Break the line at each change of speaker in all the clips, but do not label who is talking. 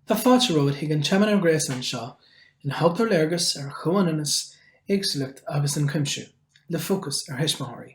Tá fáilte romhat chuig an tseimineár gréasáin seo ina thugtar léargas ar chomhionannas, éagsúlacht agus ionchuimsiú, le fócas ar thuismitheoirí.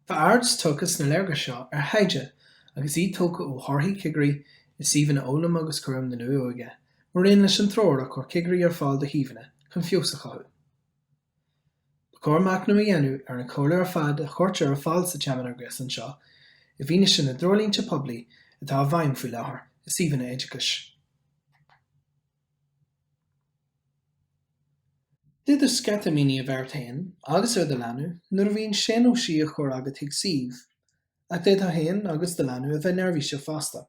Tá aird tugtha sna léargais seo ar thaighde agus í tógtha ó thorthaí cigirí i suíomhanna Fhoghlaim agus Chúram na Luath-Óige maraon leis an treoir a chuir cigirí ar fáil do shuíomhanna chun feabhas a chothú. Ba chóir machnamh a dhéanamh ar an chomhairle ar fad a chuirtear ar fáil sa tseimineár gréasáin seo i bhfianaise na dtreoirlínte poiblí atá i bhfeidhm faoi láthair i suíomhanna oideachais. D'fhéadfadh sceitimíní a bheith ort féin agus ar do leanbh nuair a bhíonn sé nó sí á chur agat chuig suíomh, ach d'fhéadfá féin agus do leanbh a bheith neirbhíseach fosta.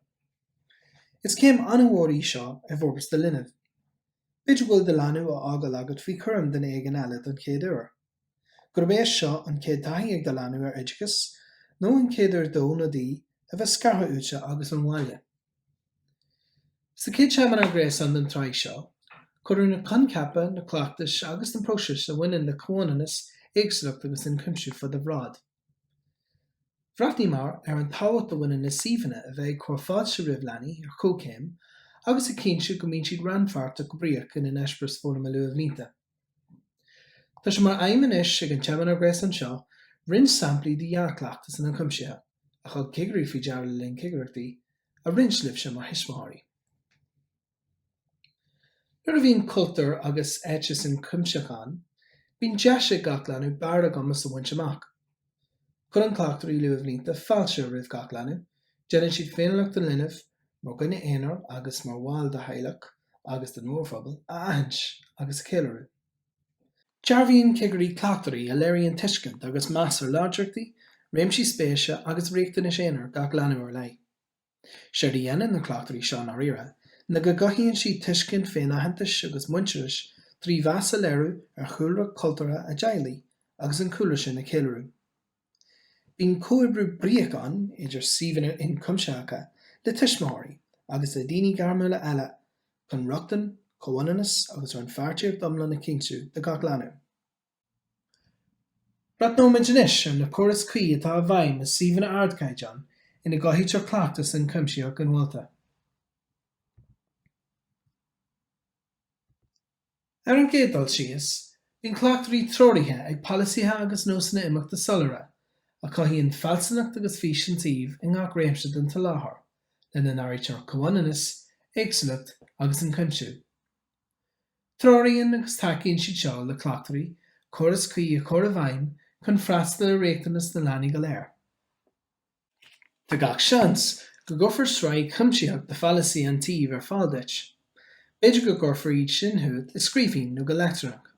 Is céim an-mhór í seo i bhforbairt do linbh. B'fhéidir go bhfuil do leanbh á fhágáil agat faoi chúram duine éigin eile don chéad uair. Gurb é seo an chéad taithí ag do leanbh ar oideachas nó an chéad uair dó nó di a bheith scartha uaitse agus ón bhaile. Sa chéad seimineár gréasáin den tsraith seo, cuireadh na coincheapa, na cleachtais agus na próisis a bhaineann le comhionannas, éagsúlacht agus ionchuimsiú faoi do bhráid. Bhreathnaíomar ar an tábhacht a bhaineann le suíomhanna a bheith ag cur fáilte roimh leanaí ar chomhchéim agus ag cinntiú go mbíonn siad rannpháirteach go bríoch ina n-eispéireas foghlama luathbhlianta. Tá sé mar aidhm anois ag an tseimineár gréasáin seo roinnt samplaí de dhea-chleachtas an Ionchuimsithe, a thug cigirí faoi deara le linn cigireachtaí, a roinnt libhse mar thuismitheoirí. Nuair a bhíonn cultúr agus eiteas ionchuimseach ann, bíonn deis ag gach leanbh barr a gcumas a bhaint amach. Cuireann cleachtóirí luathbhlianta fáilte roimh gach leanbh, déanann siad féiniúlacht an linbh, mar dhuine aonair agus mar bhall de theaghlach agus den mhórphobal, a aithint agus a cheiliúradh. Dearbhaíonn cigirí cleachtóirí a léiríonn tuiscint agus meas ar láidreachtaí, réimsí spéise agus riachtanais aonair gach leanbh ar leith. Séard a dhéanann na cleachtóirí seo, i ndáiríre, ná go gcothaíonn siad tuiscint féinaitheantais agus muintearais trí mheas a léiriú ar chúlra cultúrtha a dteaghlaigh agus an cúlra sin a cheiliúradh. Bíonn comhoibriú bríoch ann idir suíomhanna ionchuimsitheacha le tuismitheoirí agus le daoine gairmiúla eile chun rochtain, comhionannas agus rannpháirtíocht iomlán a chinntiú do gach leanbh. Breathnóimid anois ar na córais cuí atá i bhfeidhm i suíomhanna ardchaighdeáin ina gcothaítear cleachtas ionchuimsitheach inmholta. Ar an gcéad dul síos, bíonn cleachtóirí treoraithe ag polasaithe agus nósanna imeachta soiléire, a chothaíonn fealsúnacht agus fís an tsuímh i ngach réimse den tsoláthar, lena n-áirítear comhionannas, éagsúlacht agus ionchuimsiú. Treoraíonn agus tacaíonn siad seo le cleachtóirí córas cuí a chur i bhfeidhm chun freastal ar riachtanas na leanaí go léir. Tá gach seans go gcuirfear sraith chuimsitheach de pholasaithe an tsuímh ar fáil duit. B'fhéidir go gcuirfear iad sin chugat i scríbhinn nó go leictreonach.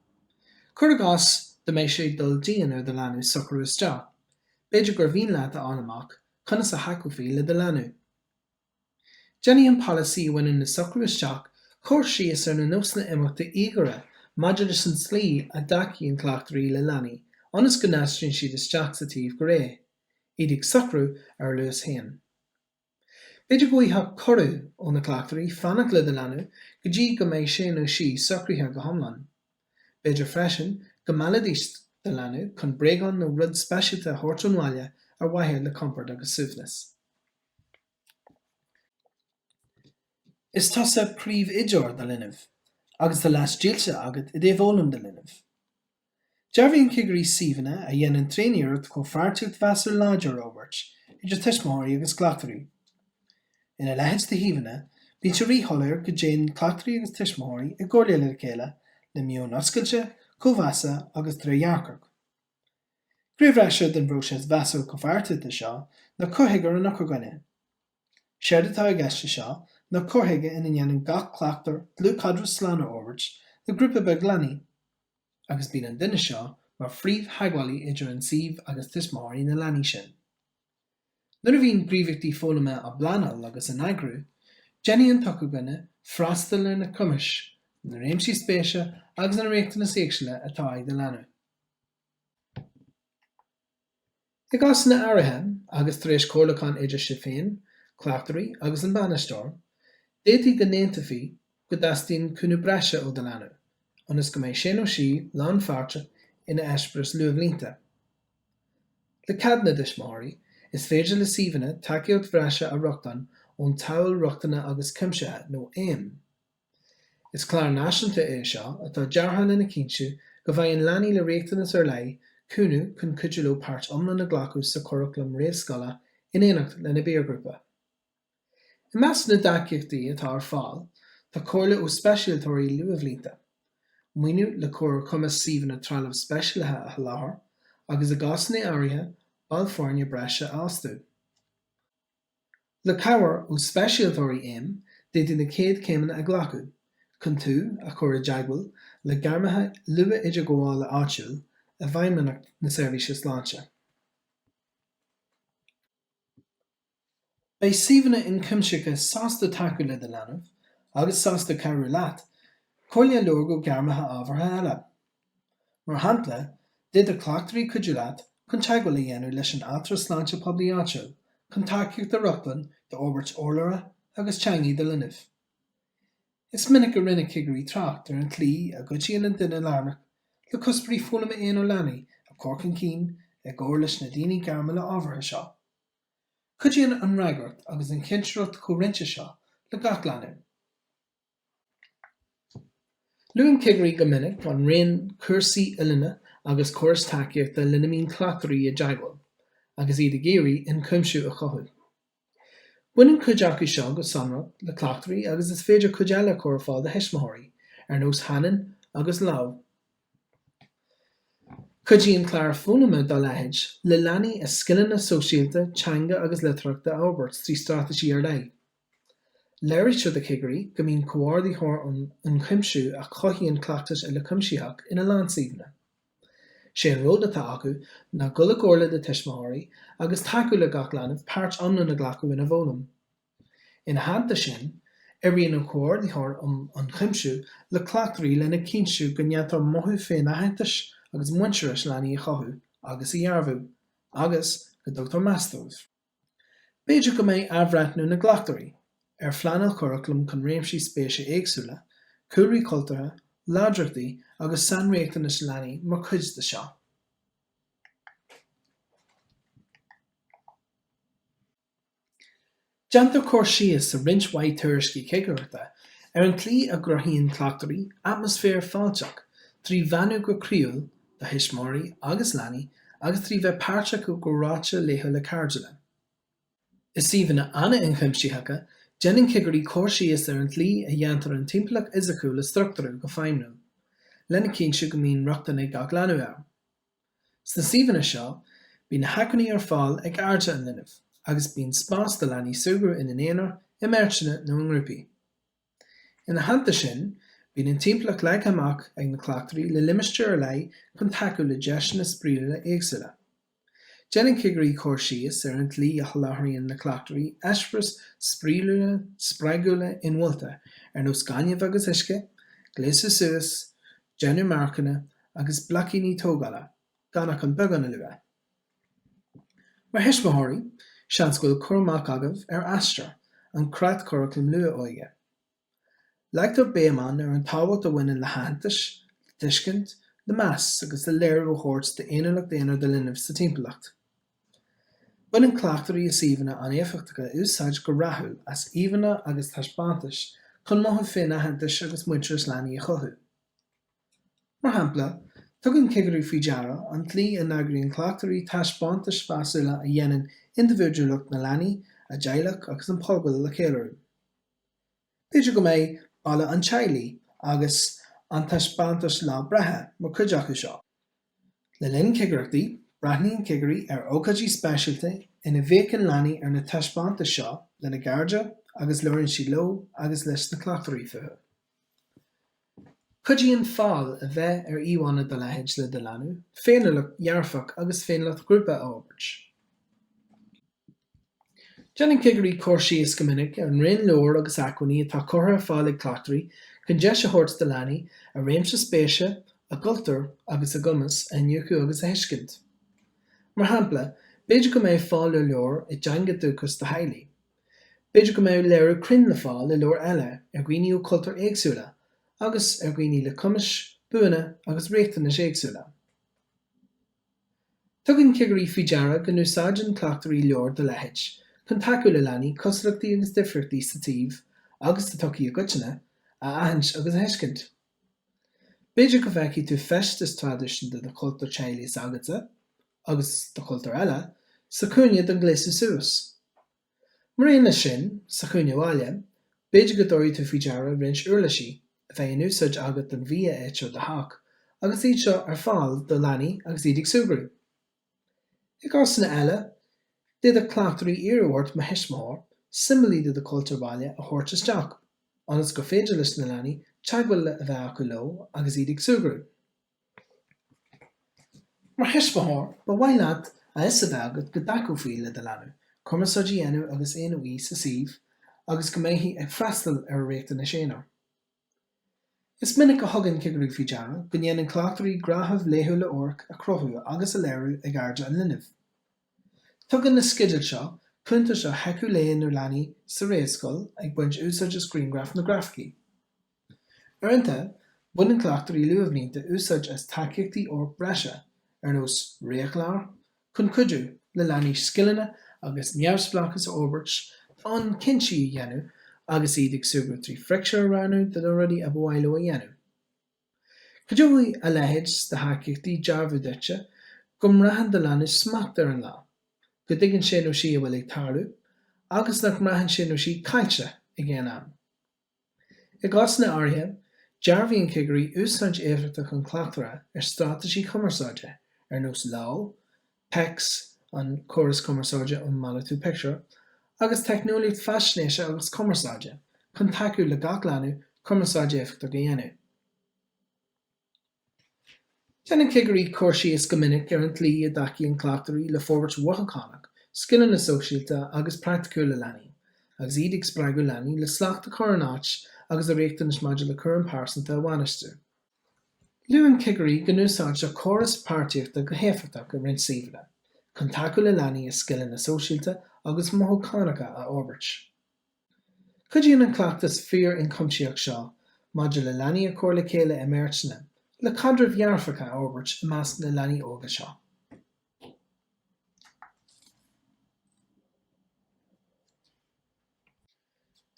Cuir i gcás dá mbeadh sé ag dul dian ar do leanbh socrú isteach, b'fhéidir gur mhian leat a fháil amach conas a thacófaí le do leanbh. Déanfaidh an polasaí a bhaineann le socrú isteach cur síos ar na nósanna imeachta íogaire maidir leis an tslí a dtacaíonn cleachtóirí le leanaí ionas go n-aistríonn siad isteach sa tsuíomh go réidh, iad ag socrú ar a luas féin. B'fhéidir go bhfaighfeá cuireadh ó na cleachtóirí fanacht le do leanbh go dtí go mbeidh sé nó sí socraithe go hiomlán. B'fhéidir freisin go meallfaidís do leanbh chun bréagán nó rud speisialta a thabhairt ón bhaile ar mhaithe le compord agus suaimhneas. Is tusa príomh-oideoir do linbh, agus do leas dílsithe agat i dtaobh fhoghlaim do linbh. Dearbhaíonn cigirí suíomhanna a dhéanann tréaniarracht comhpháirtíocht mheasúil láidir a fhorbairt idir tuismitheoirí agus cleachtóirí. Ina leithéid de shuíomhanna, bíonn sé rí-shoiléir go dtéann cleachtóirí agus tuismitheoirí i gcomhairle le chéile le meon oscailte, comhmheasa agus trédhearcach. Gné bhreise den phróiseas mheasúil comhpháirtíochta seo ná cur chuige ar an eochairdhuine. Séard atá i gceist anseo ná cur chuige ina ndéanann gach cleachtóir dlúthchaidreamh slán a fhorbairt le grúpa beag leanaí, agus bíonn an duine seo mar phríomhtheagmhálaí idir an suíomh agus tuismitheoirí na leanaí sin. Nuair a bhíonn gníomhaíochtaí foghlama á bpleanáil agus á n-eagrú, déanfaidh an t-eochairdhuine freastal ar na cumais, na réimsí spéise agus na riachtanais éagsúla atá ag do leanbh. I gcásanna áirithe, agus tar éis comhairliúchán idir sibh féin, cleachtóirí agus an bainisteoir, d'fhéadfaí go n-aontófaí go dteastaíonn cúnamh breise ó do leanbh, ionas go mbeidh sé nó sí lánpháirteach ina eispéireas luathbhlianta. Le cead na dtuismitheoirí, is féidir le suíomhanna tacaíocht bhreise a rochtain ón tSamhail Rochtana agus Cuimsithe, nó AIM. Is clár náisiúnta é seo atá deartha lena chinntiú go bhfaigheann leanaí le riachtanais ar leith cúnamh chun cuidiú leo páirt iomlán a ghlacadh sa churaclam réamhscoile in éineacht lena bpiarghrúpa. I measc na dtacaíochtaí atá ar fáil tá comhairle ó speisialtóirí luathbhlianta, maoiniú le cur ar chumas suíomhanna trealamh speisialaithe a sholáthar agus, i gcásanna áirithe, baill foirne breise a fhostú. Le cabhair ó speisialtóirí AIM d'fhéadfaí na chéad chéimeanna a ghlacadh chun tú a chur i dteagmháil le gairmithe luath-idirghabhála áitiúil i bhFeidhmeannacht na Seirbhíse Sláinte. Beidh suíomhanna ionchuimsitheacha sásta tacú le do leanbh agus sásta cabhrú leat comhairle a lorg ó ghairmithe ábhartha eile. Mar shampla, d'fhéadfadh cleachtóirí cuidiú leat chun teagmháil a dhéanamh leis an Altra Sláinte Poiblí áitiúil chun tacaíocht a rochtain d'fhorbairt urlabhra agus teanga do linbh. Is minic a rinne cigirí trácht ar an tslí a gcuidíonn an duine lárnach le cuspóirí foghlama aonair leanaí a chur chun cinn i gcomhar leis na daoine gairmiúla ábhartha seo. Cuidíonn an fhreagracht agus an chinsireacht chomhroinnte seo le gach leanbh. Luann cigirí go minic an raon cúrsaí oiliúna agus córais tacaíochta lena mbíonn cleachtóirí i dteagmháil agus iad ag iarraidh ionchuimsiú a chothú. Baineann cuid acu seo go sonrach le cleachtóirí agus is féidir cuid eile a chur ar fáil do thuismitheoirí, ar nós Hanen agus Lámh. Cuidíonn cláir foghlama dá leithéid le leanaí a scileanna sóisialta, teanga agus litearthachta a fhorbairt trí straitéisí ar leith. Léirítear do chigirí go mbíonn comhordaitheoir um ionchuimsiú a chothaíonn cleachtas uilechuimsitheach ina lánsuíomhanna. Sé an ról atá acu ná dul i gcomhairle le tuismitheoirí agus tacú le gach leanbh páirt iomlán a ghlacadh ina bhfoghlaim. Ina theannta sin, oibríonn an Comhordaitheoir um Ionchuimsiú le cleachtóirí lena chinntiú go ndéantar mothú féinaitheantais agus muintearais leanaí a chothú agus a dhearbhú, agus go dtugtar meas dóibh. B'fhéidir go mbeidh athbhreithniú na gcleachtóirí ar phleanáil churaclaim chun réimsí spéise éagsúla, cúlraí cultúrtha, láidreachtaí agus sainriachtanais leanaí mar chuid de seo. Déantar cur síos i roinnt mhaith tuairiscí cigireachta ar an tslí a gcruthaíonn cleachtóirí atmaisféar fáilteach trí bheannú go croíúil do thuismitheoirí agus leanaí agus trí bheith páirteach i gcomhráite laethúil lácha cairdiúla. I suíomhanna an-ionchuimsitheacha, déanann cigirí cur síos ar an tslí a dhéantar an timpeallacht fhisiciúil a struchtúrú go feidhmiúil, lena chinntiú go mbíonn rochtain ag gach leanbh air. Sna suíomhanna seo, bíonn na hacmhainní ar fáil ag airde an linbh, agus bíonn spás do leanaí súgradh ina n-aonar, i mbeirteanna nó i ngrúpaí. Ina theannta sin, bíonn an timpeallacht leagtha amach ag na cleachtóirí le limistéir ar leith chun tacú le deiseanna spraíúla éagsúla. Déanann cigirí cur síos ar an tslí a sholáthraíonn na cleachtóirí eispéiris spraíúla, spreagúla, ilmhódacha, ar nós gaineamh agus uisce, gléasadh suas, déanamh marcanna, agus bloicíní tógála, gan ach an beagán a lua. Mar thuismitheoirí, seans go bhfuil cur amach agaibh ar Aistear, an creatchuraclam luath-óige. Leagtar béim ann ar an tábhacht a bhaineann le haitheantas, le tuiscint, le meas agus le léiriú a thabhairt d'fhéiniúlacht aonair do linbh sa timpeallacht. Baineann cleachtóirí i suíomhanna an-éifeachtacha úsáid go rathúil as íomhánna agus taispeántais chun mothú féinaitheantais agus muintearas leanaí a chothú. Mar shampla, tugann cigirí faoi deara an tslí a n-eagraíonn cleachtóirí taispeántais mheasúla a dhéanann indibhidiúlacht na leanaí, a dteaghlach agus an phobail a cheiliúradh. B'fhéidir go mbeidh balla an teaghlaigh agus an taispeántas lá breithe mar chuid acu seo. Le linn cigireachtaí, breathnaíonn cigirí ar ócáidí speisialta ina bhféachann leanaí ar na taispeántais seo lena gcairde agus labhraíonn siad leo agus leis na cleachtóirí fúthu. Cuidíonn fáil a bheith ar íomhánna dá leithéid le do leanbh féiniúlacht dhearfach agus féiniúlacht ghrúpa a fhorbairt. Déanann cigirí cur síos go minic ar an raon leabhar agus acmhainní atá curtha ar fáil ag cleachtóirí chun deis a thabhairt do leanaí a réimse spéise, a gcultúr agus a gcumas a iniúchadh agus a thuiscint. Mar shampla, b'fhéidir go mbeidh fáil ar leabhar i dteanga dúchais do theaghlaigh. B'fhéidir go mbeidh léiriú cruinn le fáil i leabhar eile ar dhaoine ó chultúir éagsúla agus ar dhaoine le cumais, buanna agus riachtanais éagsúla. Tugann cigirí faoi deara go n-úsáideann cleachtóirí leabhair dá leithéid chun tacú le leanaí cosúlachtaí agus difríochtaí sa tsuíomh agus sa tsochaí i gcoitinne a aithint agus a thuiscint. B'fhéidir go bhfeicfidh tú feisteas traidisiúnta de chultúr teaghlaigh s'agatsa, agus de chultúir eile, sa chúinne don ghléasadh suas. Mar aon leis sin, sa chúinne bhaile, b'fhéidir go dtabharfaidh tú faoi deara roinnt uirlisí a bheidh in úsáid agat don bhia a itear i do theach agus iad seo ar fáil do leanaí agus iad ag súgradh. I gcásanna eile, d'fhéadfadh cleachtóirí iarraidh ort mar thuismitheoir, siombailí de do chultúr baile, a thabhairt isteach, ionas gur féidir leis na leanaí teagmháil a bheith acu leo agus iad ag súgradh. Mar thuismitheoir, ba mhaith leat a fhios a bheith agat go dtacófaí le do leanbh cumarsáid a dhéanamh agus é nó í sa suíomh agus go mbeifí ag freastal ar a riachtanais aonair. Is minic a thugann cigirí faoi deara go ndéanann cleachtóirí gnáthaimh laethúla amhairc a chruthú agus a léiriú ag airde an linbh. Tugann na sceidil seo cuntais ar sheicheamh lae na leanaí sa réamhscoil ag baint úsáid as grianghraif nó grafaicí. Uaireanta, baineann cleachtóirí luathbhlianta úsáid as tacaíochtaí amhairc breise, ar nós réamhchlár, Chun cuidiú le leanaí scileanna agus neamhspleáchas a fhorbairt, d'fhonn cinntí a dhéanamh agus iad ag súgradh trí phictiúir a roghnú de na rudaí ab mhaith leo a dhéanamh, cuideoidh a leithéid de thacaíochtaí dearbhú duitse go mbraitheann do leanbh smacht ar an lá, go dtuigeann sé nó sí a bhfuil ag tarlú, agus nach mbraitheann sé nó sí caillte ag aon am. I gcásanna áirithe, dearbhaíonn cigirí úsáid éifeachtach an chleachtaire ar straitéisí cumarsáide, ar nós Lámh, PECS, an córas cumarsáide um malartú pictiúr, agus teicneolaíocht faisnéise agus cumarsáide, chun tacú le gach leanbh cumarsáid éifeachtach a dhéanamh. Déanann cigirí cur síos go minic ar an tslí a dtacaíonn cleachtóirí le forbairt mhothúchánach, scileanna sóisialta agus praiticiúla leanaí, agus iad ag spreagadh leanaí le slacht a chur in áit agus a riachtanais maidir le cúram pearsanta a bhainistiú. Luann cigirí go n-úsáidtear córais páirtíochta go héifeachtach i roinnt suíomhanna chun tacú le leanaí a scileanna sóisialta agus mothúchánacha a fhorbairt. Cuidíonn an cleachtas fíor-inchuimsitheach seo maidir le leanaí a chur le chéile i mbeirteanna le caidrimh dhearfacha a fhorbairt i measc na leanaí óga seo.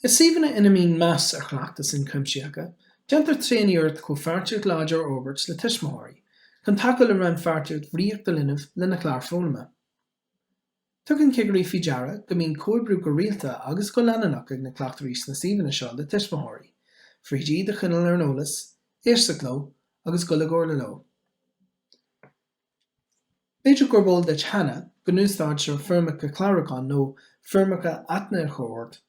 I suíomhanna ina mbíonn meas ar chleachtais inchuimsitheacha, déantar tréaniarracht comhpháirtíocht láidir a fhorbairt le tuismitheoirí, chun tacú le rannpháirtíocht bhríoch do linbh lena chlár foghlama. Tugann cigirí faoi deara go mbíonn comhoibriú go rialta agus go leanúnach ag na cleachtóirí sna suíomhanna seo le tuismitheoirí, tríd iad a choinneáil ar an eolas, éisteacht leo agus dul i gcomhairle leo. B'fhéidir gurb eol duit cheana go n-úsáidtear foirmeacha clárúcháin nó foirmeacha aithne a chur ort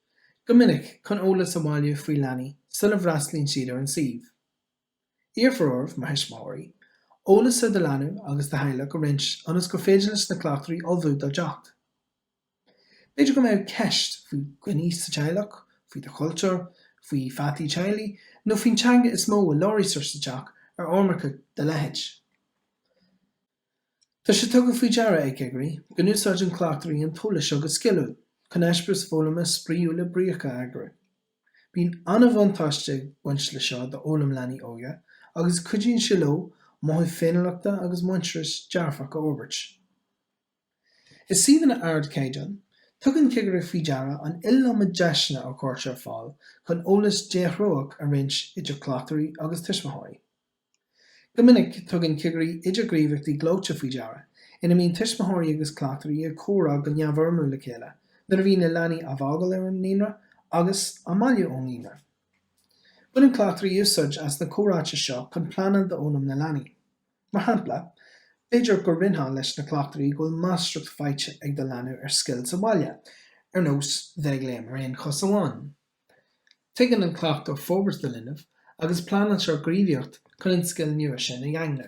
go minic chun eolas a bhailiú faoi leanaí sula bhfreastlaíonn siad ar an suíomh. Iarrfar oraibh, mar thuismitheoirí, eolas ar do leanbh agus do theaghlach a roinnt ionas gur féidir leis na cleachtóirí ullmhú dá dteacht. B'fhéidir go mbeadh ceist faoi dhaoine sa teaghlach, faoi do chultúr, faoi pheataí teaghlaigh, nó faoin teanga is mó a labhraítear sa teach ar fhoirmeacha dá leithéid. Tá sé tugtha faoi deara ag cigirí go n-úsáideann cleachtóirí an t-eolas seo go sciliúil chun eispéiris foghlama spraíúla bríocha a eagrú. Bíonn an-bhuntáiste ag baint leis seo d'fhoghlaim leanaí óga agus cuidíonn sé leo mothú féiniúlachta agus muintearais dearfach a fhorbairt. I suíomhanna ardchaighdeáin, tugann cigirí faoi deara an iliomad deiseanna a chuirtear ar fáil chun eolas déthreóch a roinnt idir cleachtóirí agus tuismitheoirí. Go minic, tugann cigirí idirghníomhaíochtaí gleoite faoi deara, ina mbíonn tuismitheoirí agus cleachtóirí ag comhrá go neamhfhoirmiúil le chéile nuair a bhíonn na leanaí á bhfágáil ar an naíonra agus á mbailiú ón naíonra. Baineann cleachtóirí úsáid as na comhráite seo chun pleanáil d'fhoghlaim na leanaí. Mar shampla, b'fhéidir go roinnfeá leis na cleachtóirí go bhfuil máistreacht faighte ag do leanbh ar scil sa bhaile, ar nós bheith ag léim ar aon chos amháin. Tuigeann an cleachtóir forbairt do linbh agus pleanáiltear gníomhaíocht chun an scil nua sin a dhaingniú.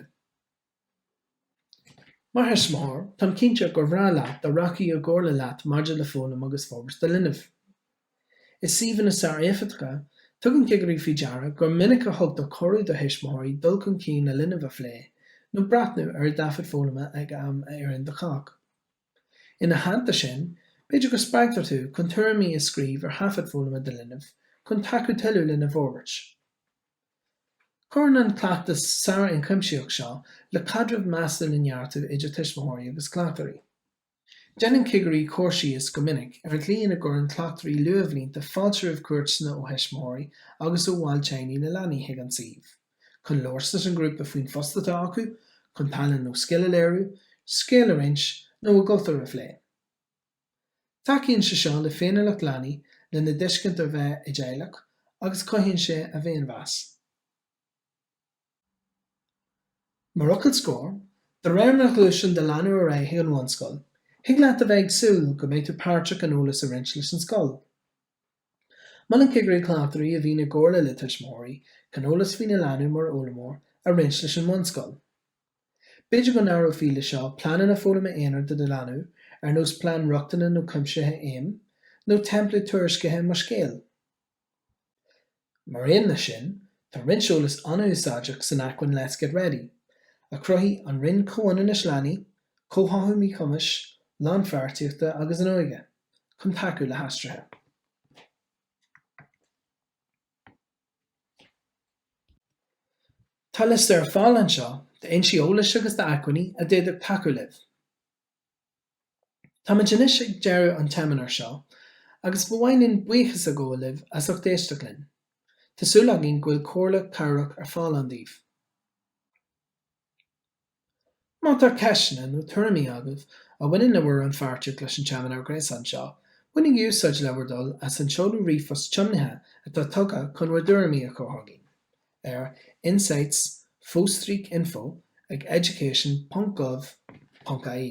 Mar thuismitheoir, táim cinnte gur bhreá leat dá rachfaí i gcomhairle leat maidir le foghlaim agus forbairt do linbh. I suíomhanna sár-éifeachtacha, tugann cigirí faoi deara gur minic a thugtar cuireadh do thuismitheoirí dul chun cinn a linbh a phlé nó breathnú ar a thaifead foghlama ag am a oireann do chách. Ina theannta sin, b'fhéidir go spreagtar tú chun tuairimí a scríobh ar thaifead foghlama do linbh chun tacú tuilleadh lena bhforbairt. Cuireann an cleachtas sár-ionchuimsitheach seo le caidreamh measúil a neartú idir tuismitheoirí agus cleachtóirí. Déanann cigirí cur síos go minic ar an gcaoi ina gcuireann cleachtóirí luathbhlianta fáilte roimh chuairteanna ó thuismitheoirí agus ó bhaill teaghlaigh na leanaí chuig an suíomh. chun labhairt leis an ghrúpa faoin phost atá acu, chun tallann nó scil a léiriú, scéal a roinnt, nó a gcultúr a phlé. Tacaíonn sé seo le féiniúlacht leanaí, lena dtuiscint ar bheith i dteaghlach, agus cothaíonn sé a bhféinmheas. Mar fhocal scoir, de réir mar a ghluaiseann do leanbh ar aghaidh chuig an bhunscoil, thig leat a bheith ag súil go mbeidh tú páirteach in eolas a roinnt leis an scoil. Molann cigirí cleachtóirí a bhíonn i gcomhairle le tuismitheoirí chun eolas faoina leanbh mar fhoghlaimeoir a roinnt leis an mbunscoil. B'fhéidir go n-áireofaí leis seo pleananna foghlama aonair do do leanbh, ar nós plean rochtana nó cuimsithe AIM, nó teimpléad tuairiscithe Mo Scéal. Mar aon leis sin, tá roinnt eolais an-úsáideach san acmhainn Let's Get Ready, a chruthaigh an Roinn Comhionannais Leanaí, Comhtháthú Míchumais, Lánpháirtíochta agus an Óige. chun tacú le haistrithe. Tá liosta ar fáil anseo d'fhoinsí eolais agus d'acmhainní a d'fhéadfadh tacú libh. Táimid anois ag deireadh an tseimineáir seo agus ba mhaith linn buíochas a ghabháil libh as ucht éisteacht linn. Tá súil againn go bhfuil comhairle chabhrach ar fáil ann daoibh. Má tá ceisteanna nó tuairimí agaibh a bhaineann le bhur rannpháirtíocht leis an seimineár gréasáin seo, bainigí úsáid le bhur dtoil as an seoladh ríomhphost tiomnaithe atá tugtha chun bhur dtuairimí a chur chugainn ar insights fostríoc info ag education.gov.ie.